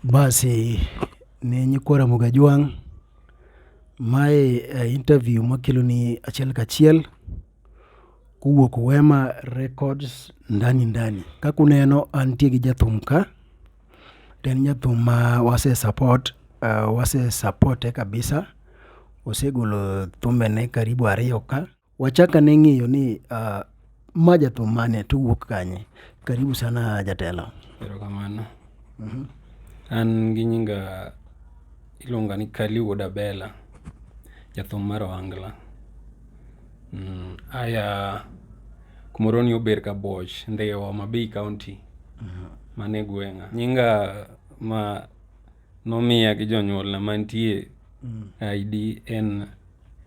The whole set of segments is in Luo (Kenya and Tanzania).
Basi ne nyikwa Ramogi Ajwang', mae interview makeloni achiel kachiel kowuok Wema Records ndani ndani. Kaka uneno antie gi jathum ka, to en jathum ma wase support, wase support e kabisa, osegolo thumbene karibu ariyo ka. Wachak ane ng'eyo ni uh, ma jathum mane to wuok kanye? Karibu sana jatelo. Erokamano. Mm -hmm. An gi nyinga iluonga ni Kali Wuod Abela, jathum mar Ohangla. Mm, aya kumoro ni ober ka boch ndhiwa Homa Bay County. Mm -hmm. Mane gweng'a. Nyinga ma nomiya gi jonyuolna mantie mm. ID en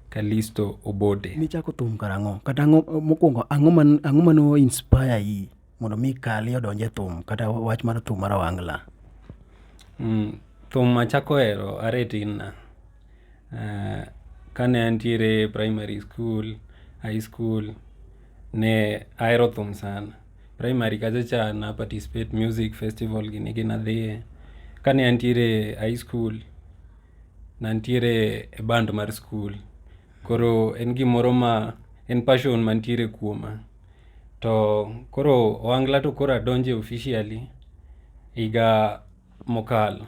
Kalisto Obote. Nichako thum karang'o? Kata ang'o mokwongo ang'o man ang'o mano inspire yi mondo mi kali odonje thum kata wach mar thum mar wangla? Mm, thum achako hero are tin na. Uh, kane antiere primary school, high school ne ahero thum sana. Primary kacha cha na participate music festival gini gina dhiye. Kane antiere high school Nantiere e band mar skul, koro en gimoro ma en passion mantiere kuoma. To koro ohangla to koro adonje officially higa mokalo,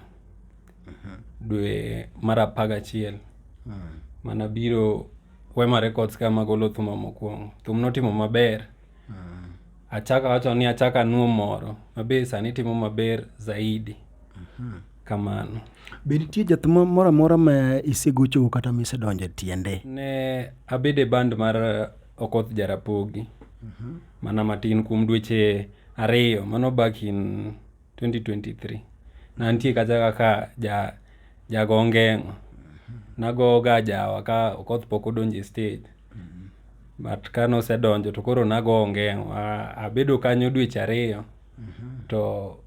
mhm. dwe mar apar gachiel. Hmm. Mana biro Wema Records ka magolo thuma mokwongo. Thum notimo maber. Hmm. Achaka wacho ni achaka nuo moro, mabe sani timo maber zaidi. Mhm. kamano. Be nitie jath moro amora ma isegochogo kata ma isedonjo e tiende? Ne abedo e band mar eh, Okoth Jarapogi mhm. mana matin kuom dweche ariyo, mano back in 2023. Nantie kacha kaka ja jago ngeng'o. Mhm. Nagoga jawa ka Okoth pok odonjo e stage. Mhm. But ka nosedonjo to koro nago ngeng'o. Abedo kanyo dweche ariyo to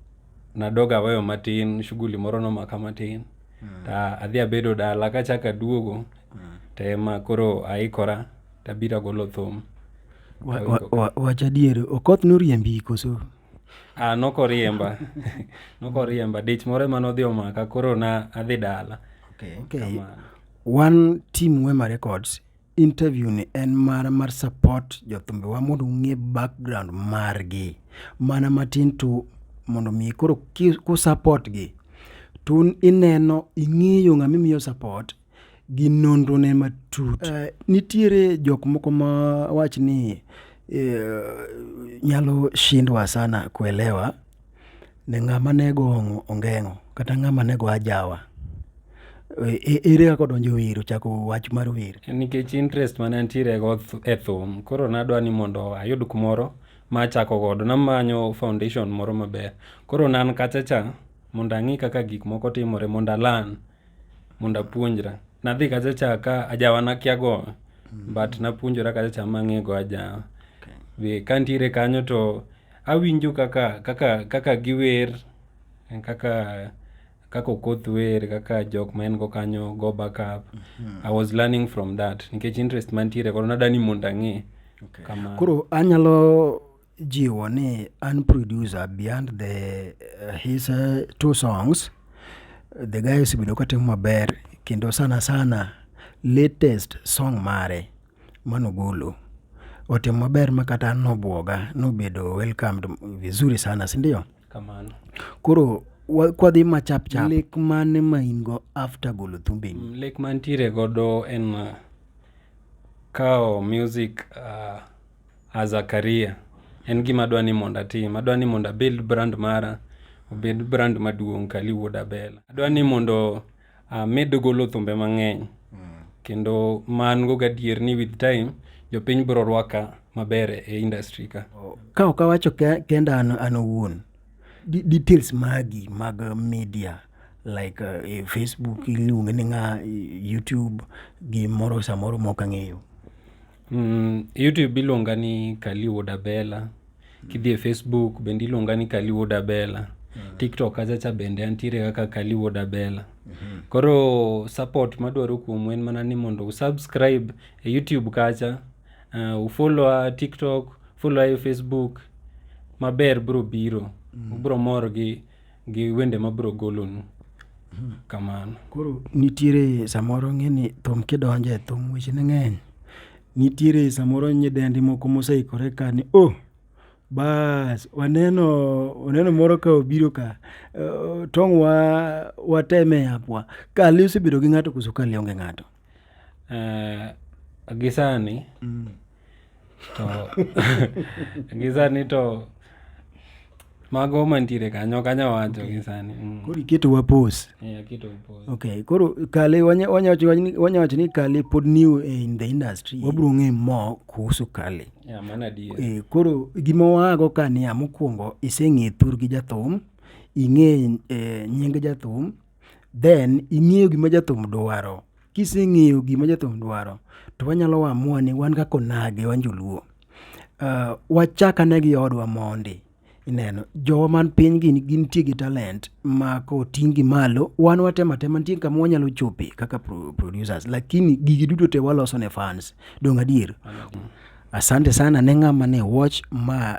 nadoga aweyo matin shughuli moro nomaka matin mm. ta adhi abedo dala kachako aduogo mm. to ema koro aikora tabiro agolo thum wach adier okoth noriembi koso ah, nokoriemba nokoriemba dich moro ema nodhi omaka koro na adhi dala okay. Okay. wan team wema records interview ni en mana mar support jothumbewa mondo ung'e background margi mana matin to mondo mi koro ku support gi to ineno ing'eyo ng'ama imiyo support gi nonro ne matut uh, nitiere jok moko ma wach ni uh, nyalo shindwa sana kuelewa ne ng'ama ne go ongeng'o kata ng'ama ne go ajawa. Ere kaka odonjo wer ochako wach mar wer? Nikech interest mane antiere go e thum, koro nadwa ni mondo ayud kumoro ma achako godo. Namanyo foundation moro maber. Koro ne an kacha cha mondo ang'i kaka gik moko timore mondo a learn. mondo apuonjra. Nadhi kacha cha ka ajawa nakia go mm. but napuonjora kacha cha mang'e go ajawa. Okay. Be kantiere kanyo to awinjo kaka kaka kaka giwer kaka kaka okoth wer kaka jok ma en go kanyo go back up mm -hmm. i was learning from that nikech interest mantiere koro nadani mondo ang'e okay. koro anyalo jiwo ni an producer behind the uh, his uh, two songs the guy osebedo katimo maber kendo sana sana latest song mare manogolo otimo maber ma kata nobwoga nobedo welcomed vizuri sana sindio kamano koro wa- kwadhi ma chap chap lek mane ma in go after golo thumbeni Mm, lek mantiere godo en uh, kawo music uh, as a career en gima adwa ni mondo atim. Adwa ni mondo abuild brand mara obed brand maduong' Kali Wuod Abela. Adwa ni mondo amed ah, golo thumbe mang'eny hmm. kendo man go gadier ni with time jopiny biro rwaka maber e industry ka. Ka ok awacho kenda an, an owuon details magi mag media like uh, e Facebook iluonge ni ng'a YouTube gi moro samoro mok ang'eyo. Mm, YouTube iluonga ni Kali Wuod Abela. Kidhi e Facebook bende iluonga ni Kali Wuod Abela. TikTok kachacha bende antiere kaka Kali Wuod Abela. Koro support madwaro kuomu en mana ni mondo usubscribe e YouTube kacha, uh, ufollowa TikTok, followa e Facebook, maber bro biro. Ubro mor gi gi wende mabiro golonu hmm. kamano koro nitiere samoro ng'eni thum kidonje thum weche ne ng'eny nitiere samoro nyidendi moko moseikore ka ni o oh, bas waneno waneno moro ka obiro ka uh, tong' wa wateme apwa kali osebedo gi ng'ato koso kali onge ng'ato Eh, gisani mm. to gisani to mago mantiere kanyo kanya wacho okay. gisani mm. koro iketo wapos yeah, okay koro kale wanyawacho ni kale pod new eh, in the industry yeah. wabro ng'e mo kuhusu kale yeah, e, koro gima wago ka niya mokwongo iseng'e thur gi jathum ing'e e, nying jathum then ing'eyo gima jathum dwaro. Kiseng'eyo gima jathum dwaro to wanyalo amua ni wan kaka onagi wan joluo, wachak ane gi odwa mondi. Ineno, jowa man piny gi gintie gi talent ma koting' gi malo wan watemo atema nitie kama wanyalo chope kaka producers lakini gigi duto te waloso ne fans. Donge adier? Asante sana ne ng'ama ne watch ma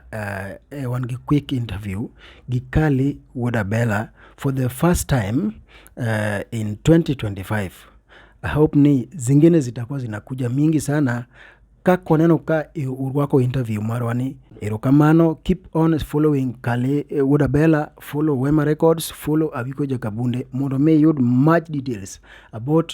wan gi quick interview gi Kally wuod Abela. For the first time uh, in 2025 I hope ni zingine zitakuwa zinakuja mingi sana kako neno ka urwako interview marwa ni erokamano keep on following kale eh, wuod abela follow wema records follow awiko jakabunde mondo mi iyud much details about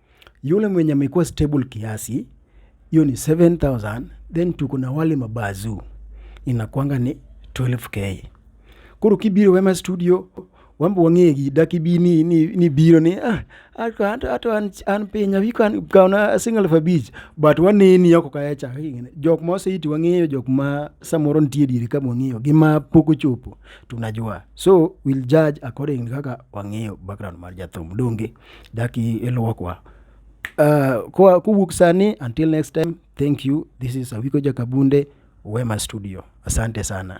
Yule mwenye amekuwa stable kiasi hiyo ni 7000 then tuko na wale mabazu inakwanga ni 12k koro kibiro wema studio wambo wang'e gi daki bi ni, ni, ni biro ni ah, ato, ato, ato an, an piny abi kan kaona single for beach but waneni oko kaya cha jok ma oseiti wang'eyo jok ma samoro nitie diere ka wang'eyo gi ma pok ochopo tunajua so we'll judge according kaka wang'eyo background mar jathum donge Dak ilwokwa. Uh, kwa kuwuok sani until next time thank you this is Awiko Jakabunde Wema Studio. Asante sana.